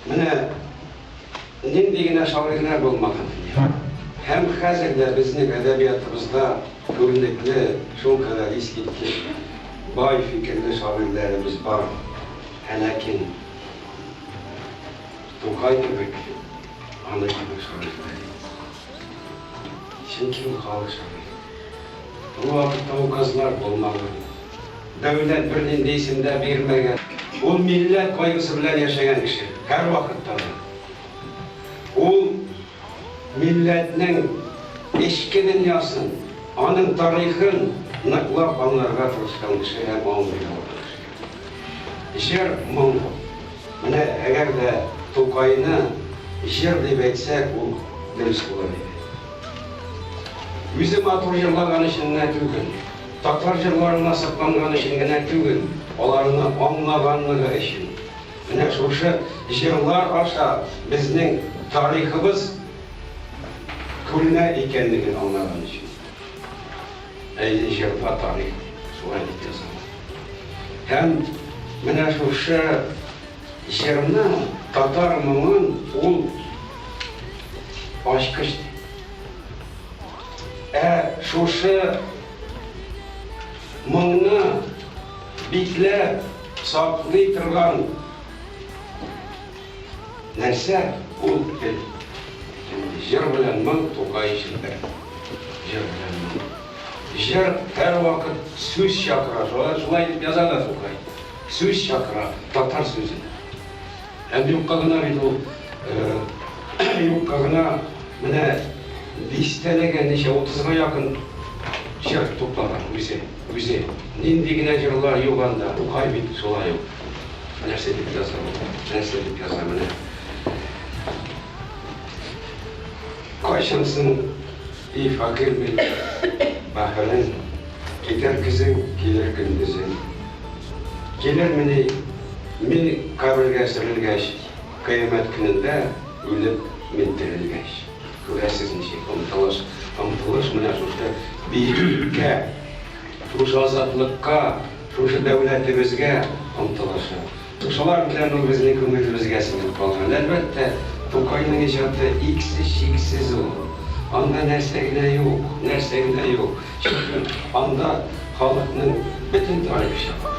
Менә нинди генә шагыйрьләр булмаган. Һәм хәзер дә безнең әдәбиятыбызда күренекле, шул кадәр искиткеч, бай фикерле шагыйрьләребез бар. Ә ләкин Тукай кебек, аны кебек шагыйрьләр юк. Чөнки ул халык шагыйре. Ул вакытта указлар булмаган, дәүләт бернинди исем дә бирмәгән. Ул милләт кайгысы белән яшәгән кеше, һәрвакытта да. Ул милләтнең эчке дөньясын, аның тарихын ныклап аңларга тырышкан кеше һәм аңлый алган кеше. Җыр моң. Менә әгәр дә Тукайны җыр дип әйтсәк, ул дөрес булыр иде. Үзе матур җырлаган өчен генә түгел, татар җырларына сокланган өчен генә түгел, аларны аңлаганлыгы өчен. Менә шушы җырлар аша безнең тарихыбыз күренә икәнлеген аңлаган өчен. Әйе, җырда тарих шулай дип языла. Һәм менә шушы җырны татар моңын ул ачкыч ди. Ә шушы моңны бикләп саклый торган. Нәрсә ул тел? Инде җыр белән моң Тукай өчен бер. Җыр белән моң. Җыр һәрвакыт сүз чакыра. Шулай, шулай итеп яза да Тукай. Сүз чакыра, татар сүзе. Һәм юкка гына бит ул, юкка гына менә дистәләгән, ничә, утызга якын җыр туплаган үзе, үзе. Нинди генә җырлар юк анда, Тукай бит шулай ук. Нәрсә дип язам? Нәрсә дип язам? Менә. Кайчансың, и факир бит, бахырың, китәр көзең, килер көндезең. Килермени, мин кабергә сөрелгәч, кыямәт көнендә үлеп мин терелгәч. Күрәсез ничек омтылыш, омтылыш менә шушы биеклеккә, шушы азатлыкка. Шушы дәүләтебезгә омтылышы, шулар белән ул безнең күңелебезгә сеңеп калган. Әлбәттә, Тукайның иҗаты иксез-чиксез ул. Анда нәрсә генә юк, нәрсә генә юк. Чөнки анда халыкның бөтен тарихы чыга.